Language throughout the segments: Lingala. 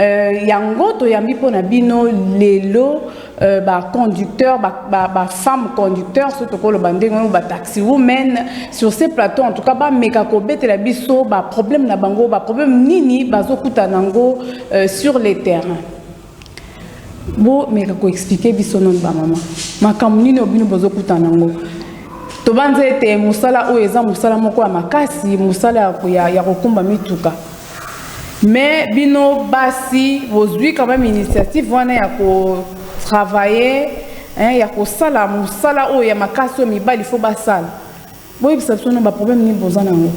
Euh, yango toyambi mpo na bino lelo euh, baconducteur bafemme ba, ba conducteur so tokoloba ndenge oyo bataxi women sur ce plateau en tout cas bameka kobetela biso baproblème na bango baproblème nini bazokuta nango euh, sur le terrain bomeka koexplike biso noni bamama makambo nini oyo bino bozokuta nango tobanza ete mosala oyo eza mosala moko ya makasi mosala ya kokumba mituka Mais bino basi bozui quand même initiative wana ya ko travailler hein, ya kosala mosala oyo ya makasi oyo mibali fo basala boyebisa biso na baproblème nini boza nango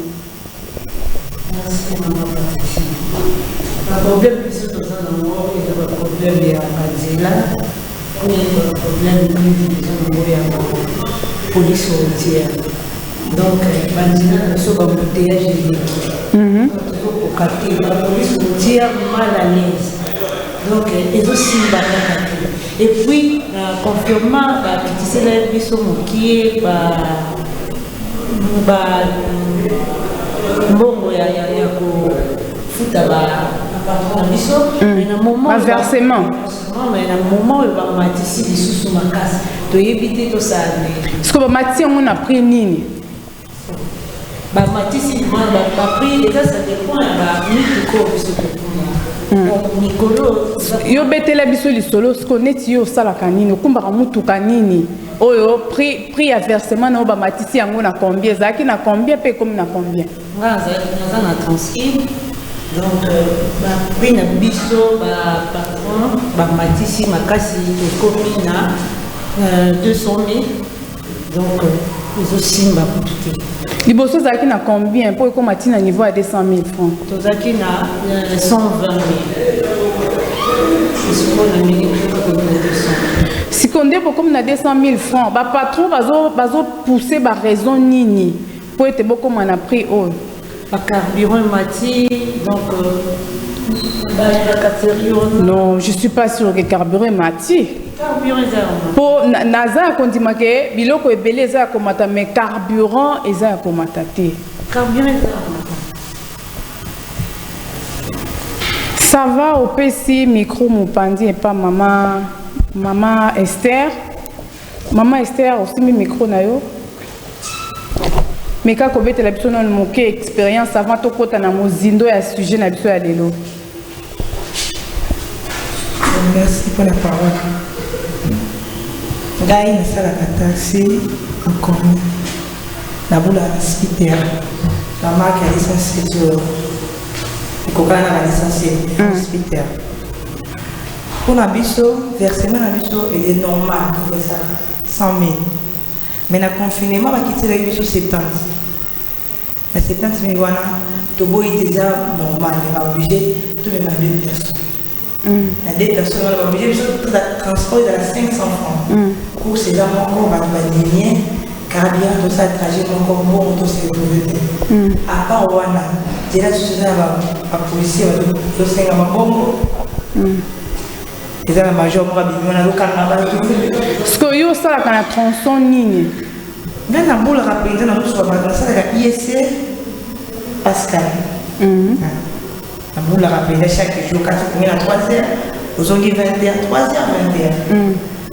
baproblème biso toza nango eza baproblème ya banzela Oyo nde ba problème mingi toza na ngo ya ba police routière donc ba nzela na biso ba embouteillage eleki tozokoka te ba police routière mal à l'aise donc ezosimba kaka te et puis na confirma bakitisela biso mokie ba ba mbongo ya ya kofuta ba na biso mais na moment ba versement Non, mais na moment oyo bamatisi lisusu makasi toyebi te tosala nini siko bamatisi yango na prix nini bamatisi baprix eza ça dépend ya bamituka oyo biso tokuna mikolo yo betela biso lisolo siko neti yo osalaka nini okumbaka motuka nini oyo prix ya versement na yo bamatisi yango na combien ezalaki na combien mpe ekomi na combien Nga nazalaki naza na transcribe donc ba prix na biso ba patron ba matisi makasi tokomi na euh, 200 000 donc euh, ezosimba kutu te liboso ozalaki na combien mpo ekoma ti na niveau ya 200 000 francs tozalaki na euh, 120 000 esiko na mili tokomi na 200 sikoyo nde bokomi na 200 000 francs bapatron bazopousse baraison nini Mpo ete bokoma na prix oyo. Ba carburant emati donc. Euh, non, je suis pas sûr que carburant emati. mpo naza ya kondima ke biloko ebele eza ya komata mais carburant eza ya komata te ça va opesi micro mopanzi epa mama mama esther Maman Esther, osimbi micro na yo. Meka kobetela biso nanu moke experience avant tokota na mozindo ya sujet na biso ya lelo. Merci pour la parole. Ngai nasalaka taxi nkomi na bula spiter na marke ya lisansi ekokana na balisansi spiter Mpo na biso, versement na biso eye normal eza 100 000 mais na confinement bakitisaki biso 70 na 70 000 wana toboyi te eza normal mais baoblige tomema deux personnes mm. na deux personnes wana baoblige biso transport ezala 500 francs mm. course eza moko bato badimie Carburant tosala trajet moko mbongo tosevure te. A part wana, nzela lisusu eza na bapolisier bazosenga mabongo. Eza na major moko abimi wana azokanga bato. Sikoyo yo osalaka na tronçon nini? Ngai nabolaka mpenza na mosuka bato, nasalaka ISA e Pascal. Mhm. Ah. Nabolaka mpenza chaque jour, kasi kongela 3 heures, ozongi 20 heures, 3 heures, 20 heures. Mhm.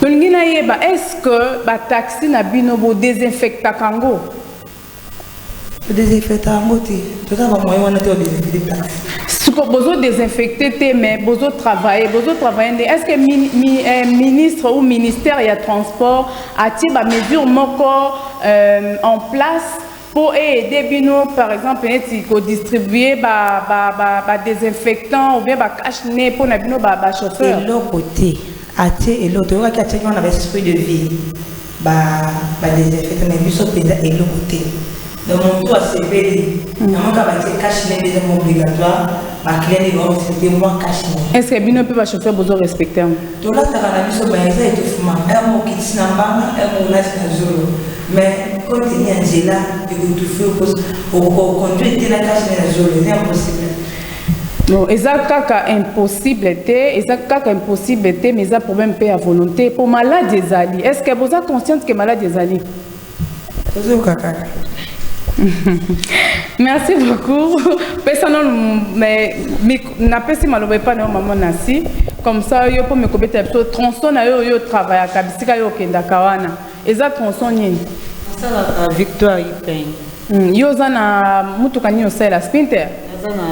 Tolingi na yeba est ce que ba taxi na bino bo desinfecta kango? To desinfecta kango te. Toza ba moyen wana te o desinfecta taxi. Siko bozo desinfecte te mais bozo travailler, bozo travailler nde est ce que mi, mi, eh, ministre ou ministère ya transport atie ba mesures moko euh, en place po e aider bino par exemple neti ko distribuer ba ba ba, ba désinfectant ou bien ba cache nez po na bino ba ba chauffeur eloko te atie eloko toyokaki atiaki wana ba esprit de vie ba ba désinfectant na biso mpenza eloko te donc motu asepeli mm. namoka batie cache nez des obligatoire bakilani baosete mwa cache nez est ce que bino mpe ba chauffeur bozo respecte yango tolataka na biso baeza etofuma emo okitisi na mbanga emo olati na zolo Mais comme il y a Angela, il faut tout faire pour qu'on conduise dès la cage de la zone, c'est impossible. Non, eza kaka impossible te, eza kaka impossible te, mais eza problème pe ya volonté. Pour malade ezali, est-ce que vous êtes consciente que malade ezali? Ozo kaka. Merci beaucoup. Pesano mais na pesi maloba pa na maman Nasi. Comme ça yo po me kobeta biso tronçon na yo yo travaillaka bisika yo kendaka wana. Eza tronçon nini? Asalaka victoire ipeng. Hmm, yo oza na mutuka nini osalela sprinter? Naza na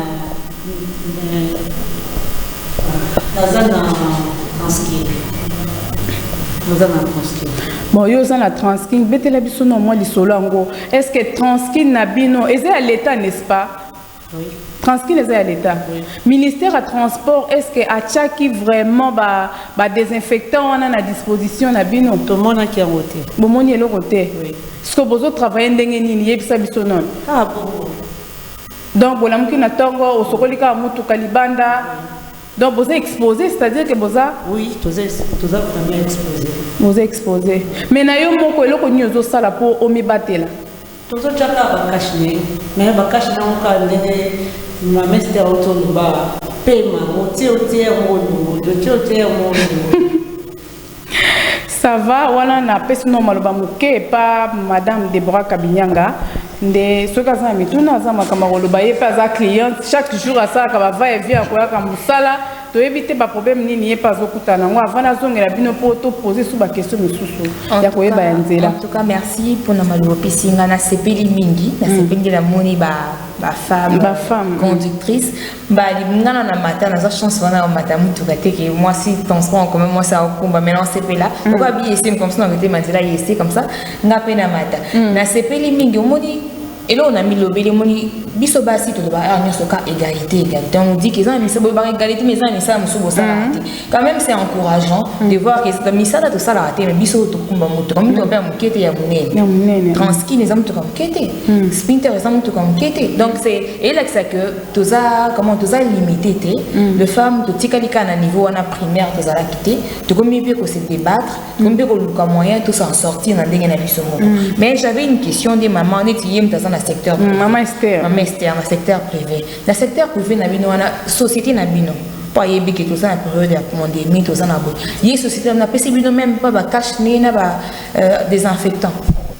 naza na transkin. Naza na transkin. Bon, yo oza na transkin, betela biso na mwa lisolo yango. Est-ce que transkin na bino eza ya l'État n'est-ce pas? Transkine eza ya l'etat. Ministère ya transport est-ce que atiaki vraiment ba ba désinfectants wana na disposition na bino? Tomonaki yango te. Bomoni eloko te. Siko bozo travailler ndenge nini yebisa biso nono. Ah bon. Donc bolamuki na tongo osokoli kaka motuka libanda. Donc boza exposé c'est-à-dire que boza Oui, toza toza vraiment exposé. Boza exposé. Mais na yo moko eloko nini ozosala mpo omibatela? Tozo tya kaka ba cache nez mais ba cache nez yango kaka ndenge mama Esther auti oloba pema otie otie yango olongoli otie otie yango olongoli ça va wana napesi no maloba moke epa madame deborah kabinyanga nde soki aza na mituna aza makambo ya koloba ye mpe aza cliente chaque jour asalaka bava evi akoyaka mosala Toyebi te ba problème nini ye pe azokutana nango avant nazongela bino po to poser sous ba question mosusu ya koyeba ya nzela. En tout cas merci pona maloba opesi nga nasepeli mingi nasepeli nde namoni ba ba femme ba femme conductrice mbali ngana na mata naza chance wana ya mata motuka te ke mwasi transport en commun mwasi aokumba mais nasepela okoba bi ese comme ça na kote manzela ye ese comme ça nga mpe na mata nasepeli mingi omoni eloko na milobeli emoni biso basi tolobaka awa nyonso ka égalité égalité on dit que eza na misala boyebaka égalité mais eza na misala mosusu bosalaka te quand même c'est encourageant de voir que misala tosalaka te mais biso oyo tokumba moto kami tope ya moke te ya monene transkin eza motoka moke te spinter eza motoka moke te donc c'est elakisa que toza comment toza limité te de femme totikali kaka na niveau wana primaire tozalaki te tokomi mpe kose débattre tokomi mpe koluka moyen to s'en sortir na ndenge na biso moko mm. mais j'avais une question nde mama neti ye moto aza na secteur mm, mama ester mama ester na secteur privé na secteur privé na bino wana société na bino mpo ayebi ke toza na periode ya pandémie toza na boye ye société na bino apesi bino meme mpo bacache nini na ba euh, désinfectant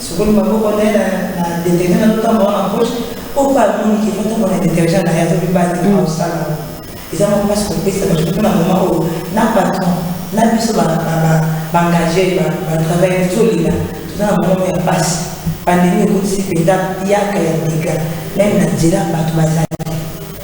Sokoli maboko na ye na detergent na lotambola na poche mpo mpe amoni ke fotambola na detergent na ye azobi basi na osala eza mwa mpasi kopesa bato mpo na moma oyo na patron na biso baengage batravaille tozolela toza na moma ya mpasi pandemi ekotisi mpenza yaka ya dega meme na nzela bato bazali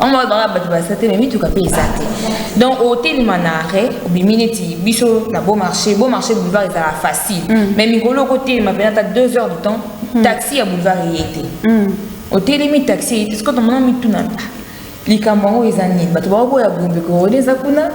yango wana banga bato baza te me mituka mpe eza te donc otelema na arret obimi neti biso na beau marché beau marché boulevard ezala facile mm. mais mikolo okotelema mpena ata deux heures de temps mm. taxi ya boulevard eye te mm. otelemi taxi eye te sikoyo tomona mituna ah, likambo yango eza nini bato bakoboya gombe korode eza kuna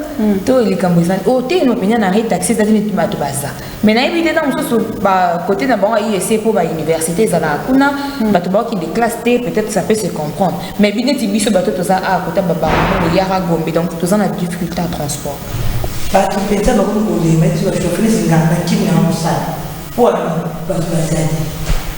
to likambo eza otelema mpenza na arret taxi eza te neti bato baza mais nayebi te ntango mosusu bakote na bango ya ese mpo bauniversité ezalaka kuna hmm. bato baokende classe te peut-être ça peut se comprendre mais bi neti biso bato toza a kota babango boyaka gombe donc toza na difficulté ya transport bato mpenza bakoki kolema eti bashofele zingaka na kimi na mosala mpo wana bato bazali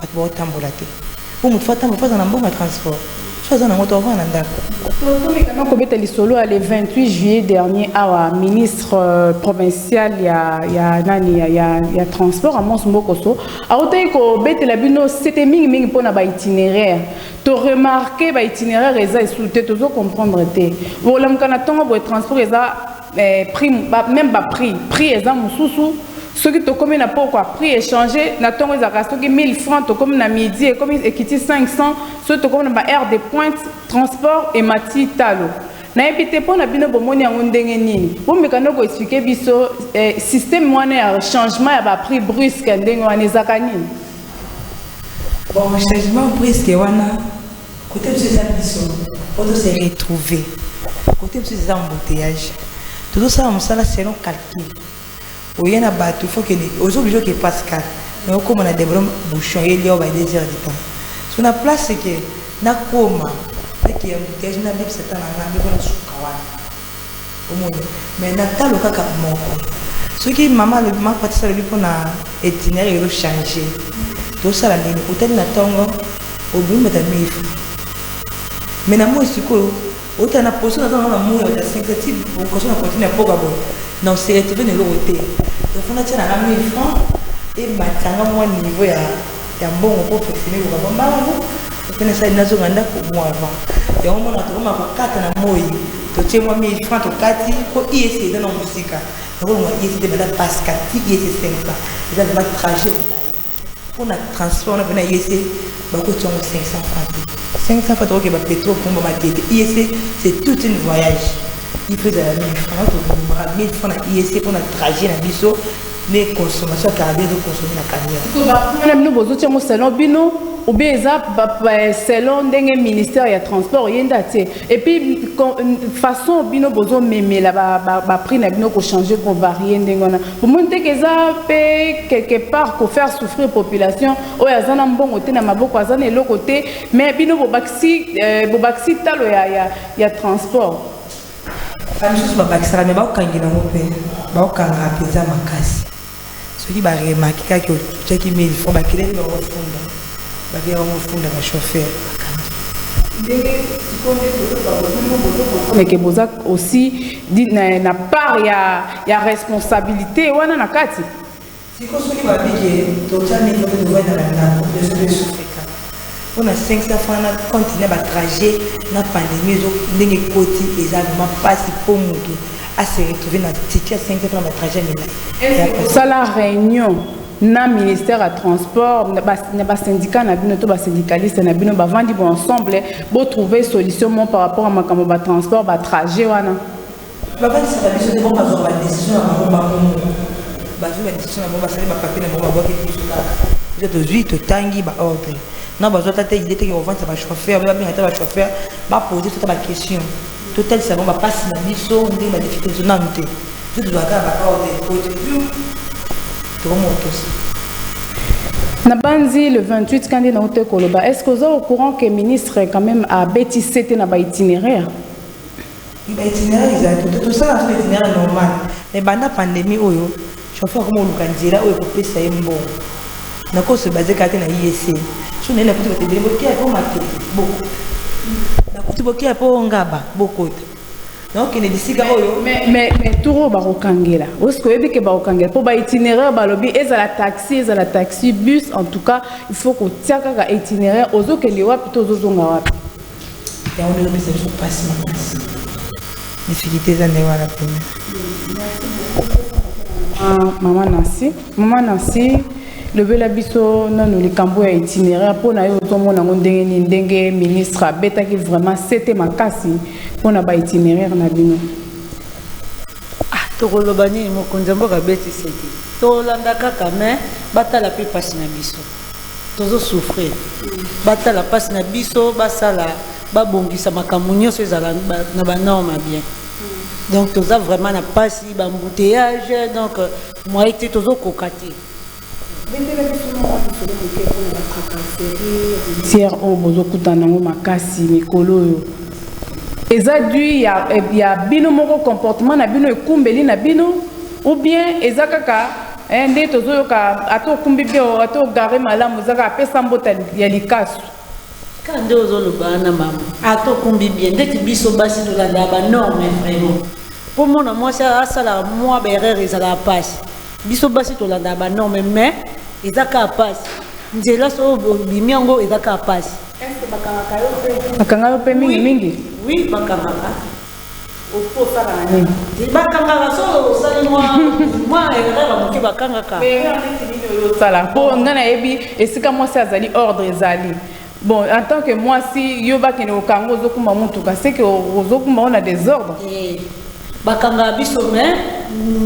Batu bao tambola te po mutu faut atambola faut azala na mbongo ya transport soki aza na yango te ako vanda na ndaku. Tomekama kobeta lisolo ya le 28 juillet dernier awa ministre euh, provincial ya, ya nani ya, ya, ya transport Amos Mbokoso autaki kobetela bino sete mingi mingi mpo na baitinéraire toremarke baitinéraire eza esu te tozo comprendre te bolamuka na ntongo boye transport eza eh, prix ba, même ba prix prix eza mususu soki tokomi na poko ya prix échange na ntongo ezalaka soki 1000 francs tokomi na midi ekomi ekiti 500 soki tokomi na ba aire de pointe transport emati talo nayebi te mpo na bino bomoni yango ndenge nini bomeka nde koexplike biso eh, système wana ya changement ya ba prix brusque ndenge wana ezalaka nini bon changement brusque wana Cote biso eza biso po to se retrouver. Cote biso eza embouteillage. Tozosala mosala selon calcul. Oye na bato faut que ozo oblige que Pascal mais okoma na deblom bouchon ye lio ba deux heures de temps. So na place que nakoma eke embouteillage nabebisa temps na ngai mpe mpo nasuka wana. Omoni mais na talo kaka moko soki maman alobi maman patisa alobi pona itinéraire ezo change tosala nini otali na tongo obimi bata mifu mais na moi sikoyo ota na poso naza na moi ya bata 5 ti poso na continue ya poka boye na oseretrouve na eloko te donc fona tia na nga 1000 francs ematanga mwa niveau ya ya mbongo mpo ofefele koka mwa mbala yango mpe nasali nazonga ndako mo avant yango mona tokoma kokata na moi totie mwa 1000 franc tokati mpo ies eza na mosika nakolonga ies te banda passe kati ies 5 franc eza vrema trajet mpo na transport na mpe na ies bakotia yango 500 franc te 500 franc tokokeba petro komba matete ies c'est toute une voyage il faut ezala 1000 franc tokobomaka 1000 franc na ies mpo na trajet na biso Ne consommation ya carburant ezo consommer na camion. Sikoyo ba points na bino bozo tia yango selon bino ou bien eza selon ndenge ministère ya transport ye nde atie et puis façon bino bozo memela ba prix na bino ko changer ko varier ndenge wana bomoni te eza pe quelque part ko faire souffrir population oyo aza na mbongo te na maboko aza na eloko te mais bino bobakisi euh, bobakisi talo ya, ya, ya transport bamisusu babakisaka me bakokangela yango mpe bakokanga mpenza makasi soki baremaki kaka otyaki mili fo bakeleli bango funda bakeli bango funda bachauffeur meke boza aussi na part ya, ya responsabilité wana na kati Sikoyo soki ba lobi ke totia micro pe tovandi na ba ndaku biso to esufrika pona 500 francs na compte na ba trajet na pandemie ezo ndenge ekoti eza vraiment pasi po mutu a se retrouver na ticket ya 500 francs na ba trajet ya milayi. Est-ce que bosala reunion na ministère ya transport na ba syndicat na bino to ba syndicaliste na bino bavandi bo ensemble bo trouver solution moko par rapport ya makambo ba transport ba trajet wana? Bakanisaka biso te bango bazwaka ba decision na bango bango moko. Bazwi ba decision na bango basali ba papier na bango babwaki biso kaka. Biso tozwi totangi ba ordre. Na bazwa ata te idee te ke kovandisa ba chauffeur, ba benga ata ba chauffeur ba pose biso ata ba question. Totalisa bango ba pasi na biso ndenge ba difficulte na biso nanu te. Biso tozwaka kaka ba ordre po ete hum tokoma kotosa. Nabanzi le 28 ka nde nauta koloba est ce que oza au courant que ministre quand meme abeti sete na ba itineraire? Mpe ba itinéraire ezali te, tosala na biso ba itinéraire normal. Mais banda pandemie oyo, chauffeur akoma koluka nzela oyo ekopesa ye mbongo. Nakoki ko se baser kaka te na IEC. Soki naye nakuti bato ebele, bokeya mpe o Matete, bokota. Nakuti bokeya mpe o Ngaba, bokota. Nakokende bisika oyo. Mais, mais, mais tour oyo bakokangela, est-ce que oyebi ke bakokangela? Mpo ba itinéraire balobi ezala taxi, ezala taxi, bus, en tout cas, il faut kotia kaka itinéraire, ozokende wapi to ozozonga wapi. Ya wana ezopesa biso mpasi makasi difficulté eza nde wana mpena mama nansi mama nansi lobela biso nanu likambo ya itineraire mpo na yo ozomona yango ndenge nini ndenge ministre abetaki vraiment sete makasi mpo na baitinéraire na bino ah, tokoloba nini mokonzi ya mboka abeti sete tolanda kaka me batala mpe mpasi na biso tozo souffrir batala pasi na biso basala babongisa makambo nyonso ezala na ba norme ya bien donc toza vraiment na pasi ba embouteillage donc moye te tozokoka te tiere oyo bozokutana yango makasi mikolo oyo eza du ya, ya bino moko comportement na bino ekumbeli na bino ou bien eza kaka Eh, nde tozoyoka ata okumbi bien ata ogare malamu ezaka apesa mbota ya likasu kaka nde ozoloba wana mama ata okumbi bien ndeti biso basi tolandaka banorme vraiment mpo mona mwasi asalaka mwa baerreur ezalaka mpasi biso basi tolandaka banorme mais eza kaka mpasi nzela so obimi yango eza kaka mpasi bakanga yo mpe mingi mingi oui bakangaka Okosala nini? Bakangaka solo osali mwa mwa erreur moke bakangaka. Mais erreur neti nini oyo osala? Mpo ngai nayebi esika mwasi azali ordre ezali. Bon, en tant que mwasi yo bakende kokanga ozokumba motuka seke ozokumba ona desordre. Eh, bakangaka biso mais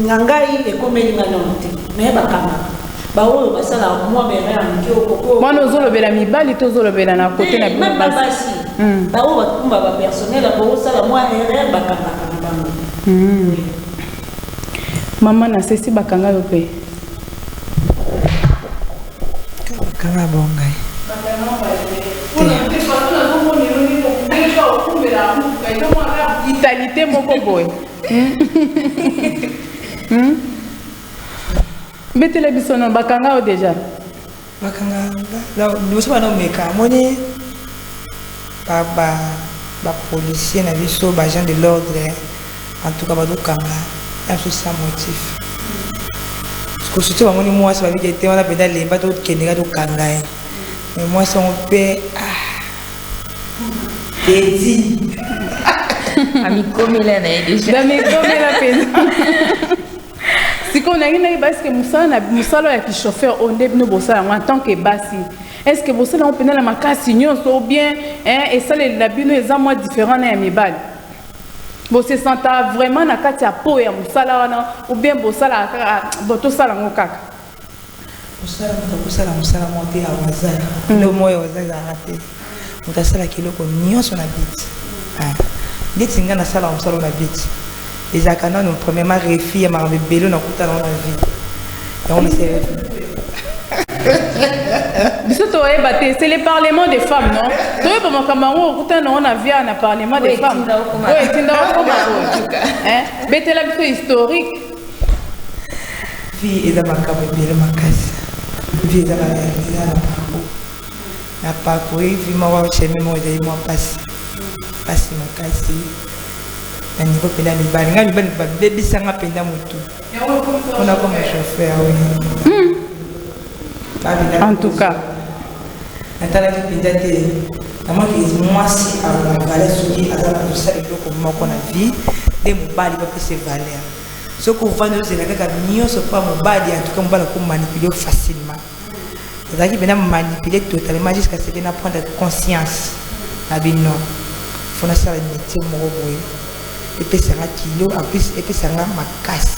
na ngai ekomeli ngai nano te mais bakangaka. baoyo basalaka mwa bere ya moke okoko mwana ozolobela mibali to ozolobela na kote na bino basi hmm. baoyo bakumba bapersonnel ya kosala mwa erreur bakangaka na bango hmm. mama na sesi bakanga yo mpe bakanga bongai italite moko boye hmm? Betele biso non bakanga yo deja. Bakanga nga liboso bana omeka amoni ba ba ba policiers na biso ba gens de l'ordre en tout cas bazokanga ya biso sans motif kosuti bamoni mwasi babi te te wana mpenza lemba tokende ka tokanga ye me mwasi yango mpe ah, edi amikomela na ye deja amikomela mpenza sikoyo nangi nayeba eske mosala mosala ya kichauffeur oyo nde bino bosala yango en tant que basi eske bosala yango mpenza na makasi nyonso ou bien esaleli na bino eza mwa différent na ya mibali bosesanta vraiment na kati ya po ya mosala wana ou bien bosalaka kaka bo tosala yango kaka mosala moto akosala mosala moko te ya wazar kilo mm. moko ya wazar ezalaka te moto asalaka eloko nyonso na biti ah. ndeti ngai nasalaka mosala na biti ezalaka nano premièrement refi ya makambo ebele nakuta nango na vie yango mesele biso toyeba te c'est le parlement des femmes non toyeba makambo yango okuta nango na via na parlement des femmes oyo etinda okoma betela biso historique Vie eza makambo ebele makasi. Vie eza na eza na bango. Na parcourir vie moko chemin moko ezali mwa mpasi mpasi makasi na niveau mpenza mibali ngai mibali babebisa nga mpenza motu mpona koma chauffeur oui. Hmm. En tout cas. natalaki mpenza te namonaki mwasi aza valeur soki aza na kosala eloko moko na vie nde mobali bapese valeur soki ovandi ozela kaka nyonso mpo mobali antuka mobali akomanipule facilement nazalaki mpena manipule totalement jusqu'à ce que na prendre conscience na bino fo nasala métier moko boye epesanga kilo en plus epesanga makasi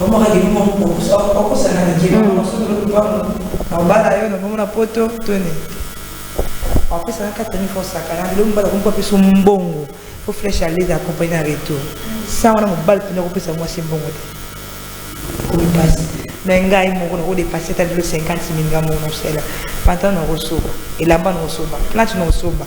Omaka ke bimo mpokusa okosa na ngema mm. masoto lo kubango na obala yo na bongo na poto tone apesa na kati ni fo sakana lelo mobali akomi kopesa mbongo fo flèche alez accompagne na retour sa wana mobali mpena akopesa mwasi mbongo te okomi mpasi me ngai moko nakodepase ata lelo 50 mil ngai moko nakosala pantalo nakosoba elamba nakosoba plante nakosoba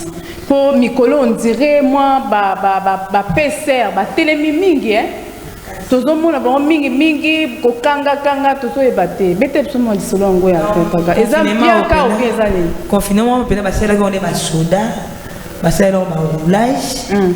po mikolo on dirait mwa ba ba ba, ba PCR batelemi mingi eh tozomona bango mingi mingi kokanga kanga tozoyeba te bete biso mwa lisolo yango ya kaka eza biaka obi eza nini confinement mpenza basalelaki yango nde basoda basalelaki yango baroulage hmm.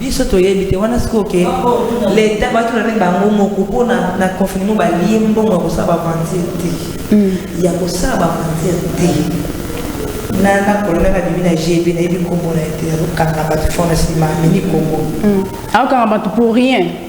biso toyebi te wana sikoyo ke leta batula nde bango moko mpo na confinement balie mbongo ya kosala bavanzire te mm. ya kosala bavanzire te nana kolona na bimi na gb nayebi nkombo na ye te azokanga bato fond na nsima amini nkombo mm. akokanga bato pour rien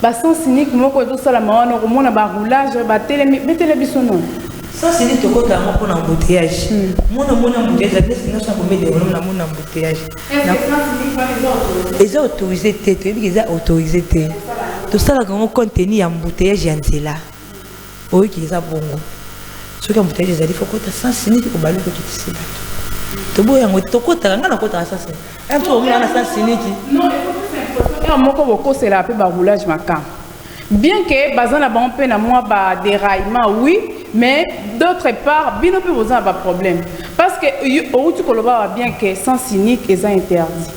Ba sens unique moko ezo salama wana okomona ba roulage ba telemi betela biso non. Sens unique tokota yango mpona embouteillage. Hmm. Mona mona embouteillage la place nyoso akomi de mona mona embouteillage. Eza autorisé te toyebi eza autorisé te. Tosalaka yango compte tenu ya embouteillage ya nzela. Oyoki eza bongo soki embouteillage ezali faut kota sans unique obali ko kitisi bato toboya yango te tokotaka ngai nakotaka sans unique un jour omona na sans unique non heure moko bokosela mpe baroulage makambo bien que baza na bango mpe na mwa ba déraillement oui mais d'autre part bino mpe boza na baproblème parce que outi koloba ba bien que sens unique eza interdit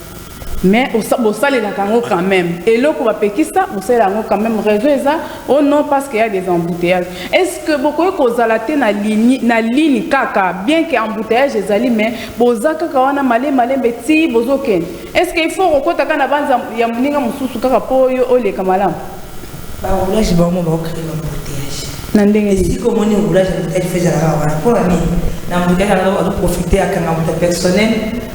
Mais bosalelaka yango quand même eloko bapekisa bosalela yango quand même raison eza o oh non parce que ya des embouteillages est ce que bokoki kozala te na ligne na ligne kaka bien que embouteillage ezali mais boza kaka wana male malembe ti bozokende est ce que il faut kokota kaka na banza ya moninga mosusu kaka mpo yo oleka malamu baroulage bango baokende embouteillage na ndenge nini esika omoni roulage embouteillage fo ezalaka wana mpo na nini na embouteillage yango azoprofite akanga moto personnel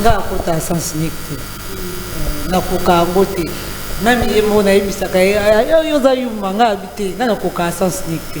nga akota sens unique te nakoka yango te meme ye moko nayebisaka ye yo oza yuma nga abi te nga nakoka sens unique te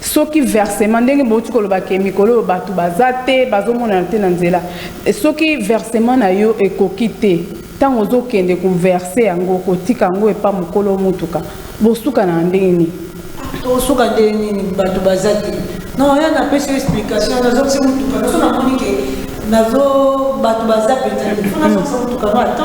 soki versement ndenge bouti koloba ke mikolo oyo bato baza te bazomonana te na nzela soki versement na yo ekoki te ntango ozokende koverse yango kotika yango epa mokolo motuka bosuka na ndenge nini tosuka ndenge nini bato baza te non ya napesi yo explication nazokisi motuka naso namoni ke nazo bato baza mpenza te fo nazokisa motuka no ata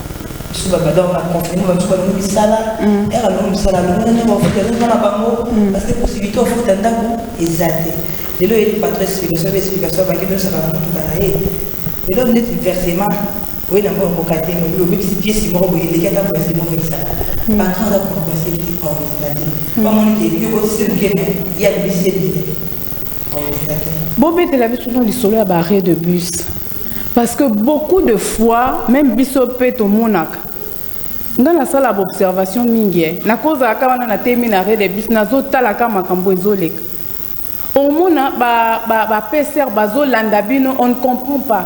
biso babanda baconfine bato balongo misala ere alongo misala alongo na ndenge bafuta ezonga na bango parce que possibilité ofuta ndako eza te lelo eyeli patro explication mpe explication abaki losaka na motuka na ye lelo ndeti versement oye na mboka mboka te mais obebisi piesi moko boye eleki ata versement oyebisaka patron aza compresse te aoleka te bamoni ke yo kotise moke me ye abebisi ebele aoleka te bobetela biso no lisolo ya ba arrêt de bus Parce que beaucoup de fois meme biso pe tomonaka nga nasala baobservation mingi eh. nakozalaka wana natemi na rede bis nazotalaka makambo ezoleka omona bapeser ba, ba bazolanda bino on ne comprend pas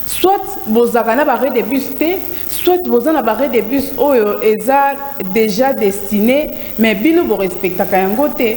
soit bozalaka na barede bus te soit boza na barede bus oyo eza déjà destiné mais bino borespectaka yango te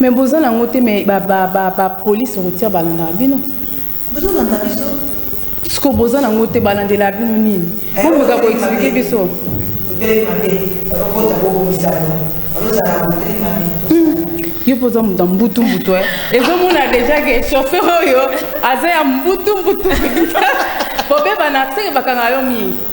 Mais boza na ngo te mais ba ba ba ba police routière balandaka bino. Bozo landa biso. Siko boza na ngo te balandela bino nini? Eh, Bo boza ko expliquer biso. Hôtel mabe, bakota bo komisa yo. Baloza na hôtel mabe. Hmm. Yo poza muta mbutu mbutu eh. Ezo mona déjà que chauffeur oyo aza ya mbutu mbutu. Bobeba na seke bakanga yo mingi.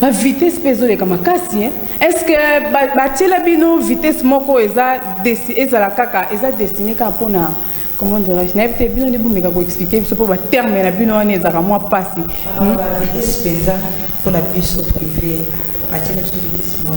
ba vitesse mpe ezoleka makasi hein? est ce que batiela bino vitesse moko eza ezala kaka eza destine kaka mpona comment dirais-je nayebi te bino nde bomeka koexplike biso mpo baterme na bino wana ezalaka mwa mpasi mpenza mpona biso prive batiela biso vitesse moko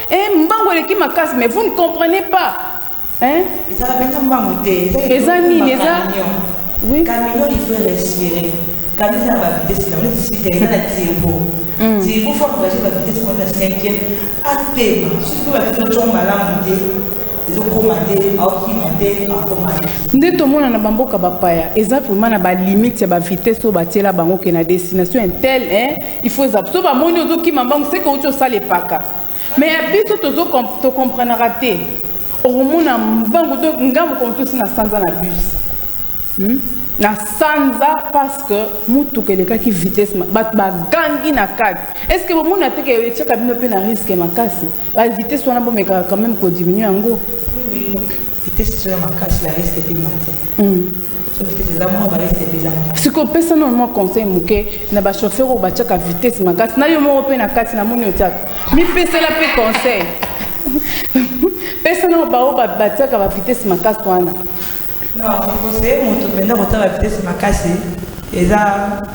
Eh, mbango eleki makasi mais vous ne comprenez pas hein? ezala mpenza mbango te eza nini eza oui. camion il faut respirer camion eza na bavitesse na oleti sita eza na tirbo tirbo fo engage bavitesse mona cinquième atema soki mpe bavitesse otyoko malamu te ezokoma te aokima te akoma te nde tomona na bamboka bapaya eza vraimen na balimite ya bavitesse oyo batiela bango ke na destination intel il faut eza so bamoni ozokima mbango seke outi osala epaka mais ya biso tozo to comprenaka te okomona mbangu to nga mokolo mosusu na sanza na bus hmm? na sanza parce que motuka elekaki vitesse bato bagangi na kati est ce que bomoni ate ke etyaka bino mpe na risque makasi bavitesse wana bomekaka quand même kodiminue yango vitesse ezoya makasi la risque etemate hmm. siko pesa nano mwa conseil moke na bachauffeur oyo batiaka vitesse makasi na yo moko mpe na kati na moni otiaka mipesela mpe conseil pesa nano baoyo batiaka bavitesse makasi wana conseille moto mpenza kotala vitesse makasi eza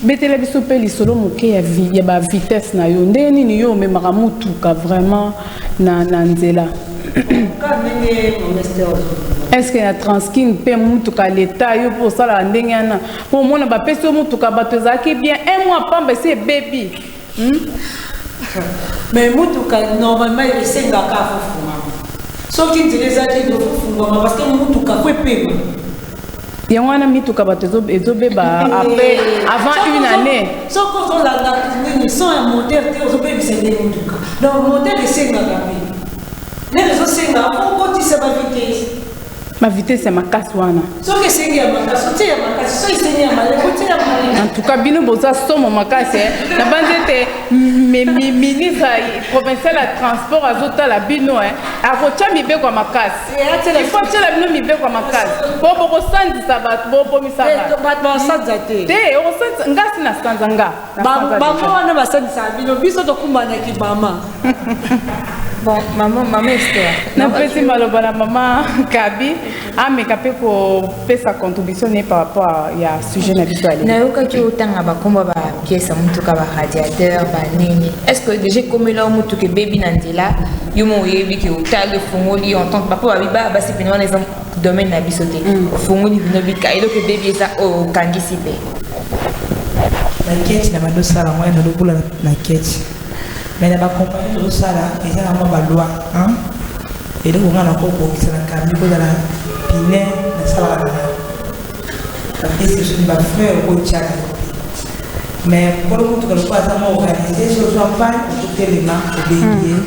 Betela biso pe lisolo moke ya vie ya ba vitesse na yo. Ndenge nini yo omemaka mutuka vraiment na na nzela? Est-ce que na transking pe mutuka leta yo po osala ndenge wana? Po omona ba pesi yo mutuka bato ezalaki bien un mois pamba esi ebebi. Hmm? Mais mutuka normalement esengaka afofungama soki nzela ezalaki ekofungama parce que mutuka ko epema yango wana mituka bato ezobeba après avant une année soki ozolanda nini son ya moteur te ozobebisa nde motuka donc moteur esengaka mpe nde ezosenga okotisa bavitese Ma vitesse ya makasi wana. Soki esengi ya makasi, otie ya makasi. Soki esengi ya maleko, otie ya maleko. En tout cas, bino boza somo makasi. Eh. Na banze te ministre provincial ya transport azotala bino eh. akotya mibeko ya makasi eh, il faut atyela bino mibeko ya makasi po bokosandisa bato bokomisa eh, bato te okosandisa ngasi na sanza nga Bango wana basalisaka bino, biso tokumbanaki mama. Bon, mama, mama Esther. Napesi maloba na mama Kabi ameka mpe kopesa contribution ne par rapport ya sujet na biso ale. Nayokaki otanga bakombo ba pièce ya motuka ba radiateur ba nini. Est-ce que déjà ekomela yo motuka ebebi na nzela yo mo oyebi ke otali efongoli entente bapo babiba basi pene wana eza domaine na biso te mm. ofungoli bino bika eloko ebebi eza okangisi mpe baketi na bando sala moya na lokola na keti mai na bakompani tozosala eza na mwa balwa eloko nga nakobongisa na kambi kozala pine nasalaka na bapesi soki bafreur okotyaka mais kolo motuka lokola aza mwa organise sozwa mpani okotelema obengi ye mm.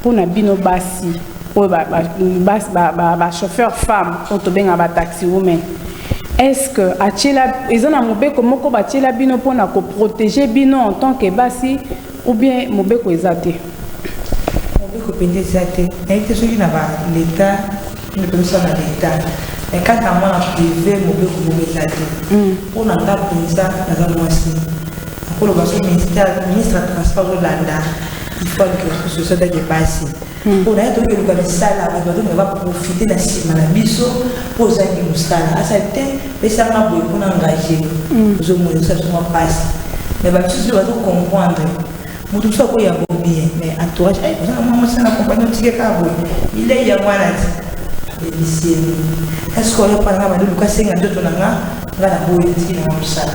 Mpo na bino basi oyo ba, ba, bas- ba, ba, ba chauffeur femme oyo tobenga ba taxi women est-ce que atiela eza na mobeko moko batiela bino mpo na koprotege bino en tant que basi ou bien mobeko eza te mobeko mpenza eza te nayebi te soki na baleta nde mpenza na leta mais kaka na mwana prive mobeko moko eza te mpo na nga mpenza naza mwasi koloba so ministère ministre ya transport azolanda ifale ke société dake basi mpo na ye toki koluka misala bato batonga baprofite na nsima na biso mpo ozangi mosala asali te pesanga boye mpona engage ozomona osali soma mpasi me bamisusu bazo comprendre moto mosusu akoya bo bien me entourage ozanga mwa mosala na kompani otike kaka boye bilei yango wana ti ebiseli eske oyo mpo nanga bande luka senga nzoto na nga nga na boye etiki na nga mosala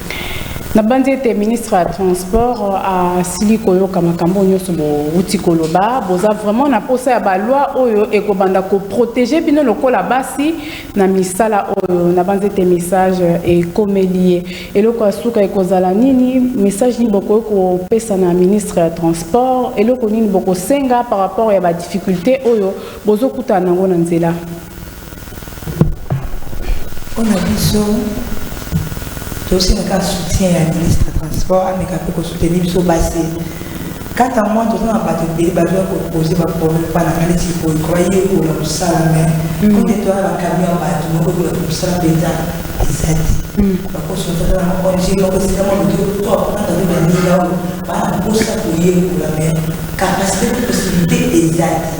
nabanzi ete ministre ya transport euh, asili koyoka makambo nyonso bouti koloba boza vraiment na mposa ya baloi oyo ekobanda koprotege bino lokola basi na misala oyo nabanzi ete message ekomeli ye eloko ya suka ekozala nini message nini bokoki kopesa na ministre ya transport eloko nini bokosenga par rapport ya badifficulté oyo bozokutana yango na nzela Pona biso tosengaka soutien ya ministre ya transport ameka mpe kosoutenir biso basi kata mwa toza na bato ebele bazwa kopose baproblème mpa nanga neti koyekoba yekola kosala mai kote toya bakami ya bato moko ekola kosala mpenza eza te bakosotata na ong moko esika mwa moto to akonaka mpe baninga oyo bana mposa koyekola mai kapasite mpe posibilité eza te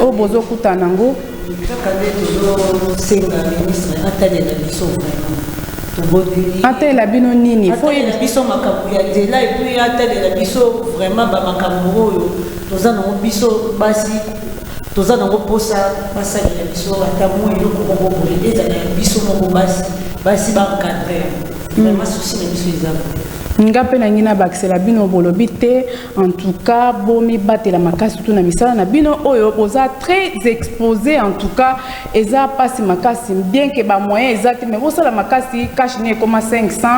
oyo bozokutana nango kaka nde tozosenga ministre atalela biso vraiment atalela bino nini atalela biso makambo ya nzela epuis atalela biso vraiment bamakambo oyo toza nango biso basi toza nango mposa basalela biso ata moi eloko moko boye ezala ya biso moko basi basi baencadre yango mm. vraiment susi na biso eza boye nga mpe nangi nabakisela bino bolobi te En tout cas, bomi batela makasi tout na misala na bino oyo boza très exposé en tout cas eza pasi makasi bien que ba moyens eza mais mais sala makasi cash ne comme 500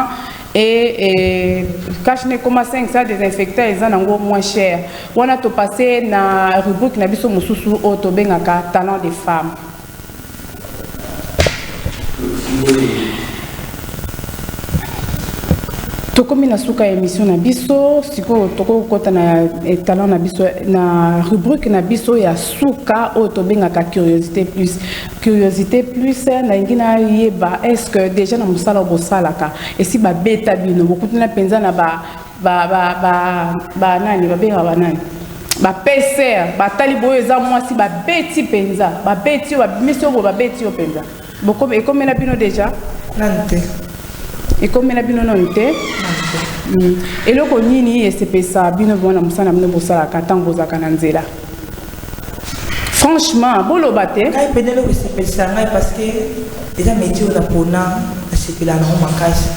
et, et cash ne comme 500 désinfectant eza nango moins cher. Wana to passer na rubrique na biso mususu oyo to bengaka talent des femmes. tokomi na suka ya émission na biso sikoyo tokoki kokɔta na talent na biso na rubrique na biso ya suka oyo tobengaka curiosité plus curiosité plus nalingi nayeba est ce que déjà na mosala bosalaka esi babeta bino bokutana mpenza na ba ba ba ba ba nani babenga banani bapeser batali boyo eza mwasi babeti mpenza babeti yo babimisi yo boye babeti yo mpenza ekomela bino deja nani te ekomela bino nani te hmm. eloko nini esepesa bino bana mosala bino bosalaka ntango bozalaka na nzela franchement boloba te ngai mpe ndenge okosepelisa ngai parceke eza métier oyo napona nasepelaka nango makasi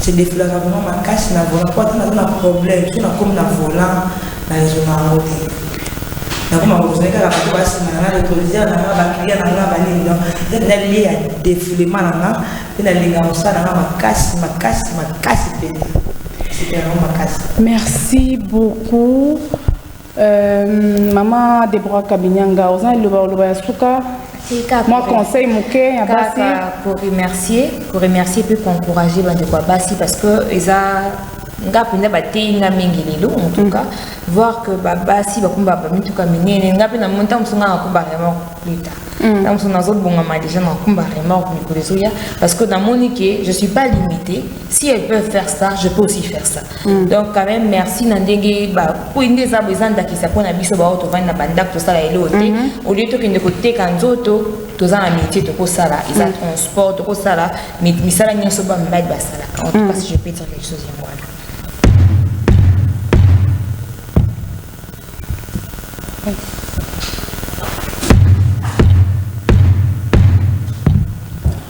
se defulaka vraiment makasi na volant mpo ata naza na problème so nakomi na volant na rezona yango te nakoma kozali kaka bato basima nanga letolisere nanga baklia nanga banini don nalie ya defulema nanga mpe nalinga mosala nanga makasi makasi makasi mpenza sepela nango makasi merci beaucoup Euh, maman Deborah Kabinyanga, oza liloba oloba ya suka moi conseil moke ya basi koremercier koremercier mpe koencourage bandeko ya basi parce que eza nga mpenza bateyi nga mingi lelo en tout cas mm. voir que babasi bakomba bamituka minene nga mpe na moni ntango mosu nga nakomba vraiment plus tard Mm. ntango mosusu nazobongama déjà na kumba remorque mikolo ezoya parce que namoni ke je suis pas limité si elles peuvent faire ça je peux aussi faire ça Mm. donc quand même merci na ndenge bakwei nde eza eza ndakisa mpo na biso baoyo tovandi na bandako tosala eloo te mhm. olie tokende koteka nzoto toza na métier tokosala eza mm. transport tokosala misala nyonso bamibali basalaka en tout cas mm. si je peux dire quelque chose yango wana Thanks.